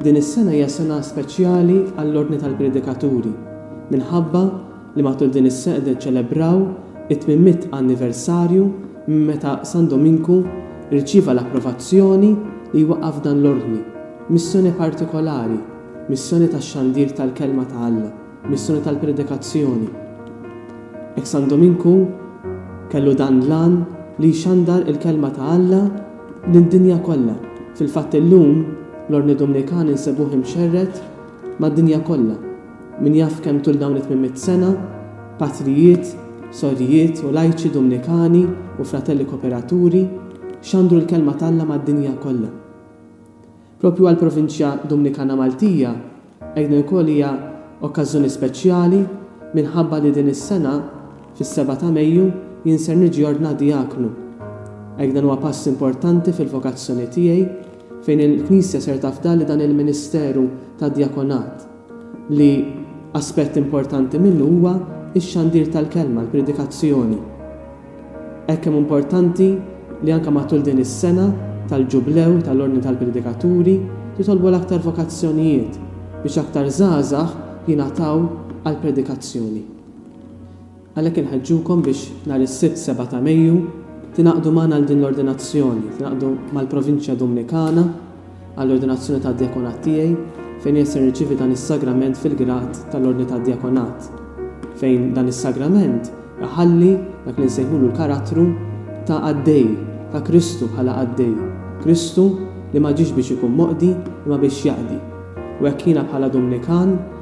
Din is-sena hija sena speċjali għall-Ordni tal-Predikaturi minħabba li matul din is-sena qed niċċelebraw it-tmien mitt anniversarju minn meta San Dominku rċieva l-approvazzjoni li jwaqqaf dan l-Ordni, missjoni partikolari, missjoni tax-xandir tal-Kelma ta' Alla. Missjoni tal-predikazzjoni. Hekk San Dominku kellu dan l-għan li jxandar il-kelma ta' Alla lid-dinja kollha. Fil-fatt illum l-Ordni Dumnikani nsibuh imxerred mad-dinja kollha. Min jaf kemm tul dawn it-tmienmitt sena patrijiet, sorijiet u lajċi Dumnikani u fratelli koperaturi xandru l-kelma t'Alla mad-dinja kollha. Proprju għall-Provinċja Dumnikana Maltija, Eid Nikol hija okkażżjoni speċjali minħabba li din is-sena, fis-seba' ta' Mejju, jien ser niġi ordnat dijaknu. Eid dan huwa pass importanti fil-vokazzjoni tiegħi, fejn il-Knisja ser tafdalli dan il-ministeru tad-djakonat. li aspett importanti minnu huwa x-xandir tal-Kelma, l-predikazzjoni. Hekk kemm hu importanti li anke matul din is-sena tal-Ġublew tal-Ordni tal-Predikaturi jitolbu l-aktar vokazzjonijiet biex aktar żgħażagħ jingħataw għall-predikazzjoni. Għalhekk inħeġġukom biex nhar is-Sibt 7 ta' Mejju tingħaqdu magħna għal din l-ordinazzjoni, tingħaqdu mal-Provinċja Dumnikana għall-ordinazzjoni tad-djakonat tiegħi fejn wieħed se jirċievi dan is-sagrament fil-grad tal-ordni tad-djakonat, fejn dan is-sagrament iħalli dak li nsejħulu l-karattru ta' qaddej, ta' Kristu bħala qaddej, Kristu li ma ġiex biex ikun moqdi imma biex jaqdi. U hekk jiena bħala Dumnikan,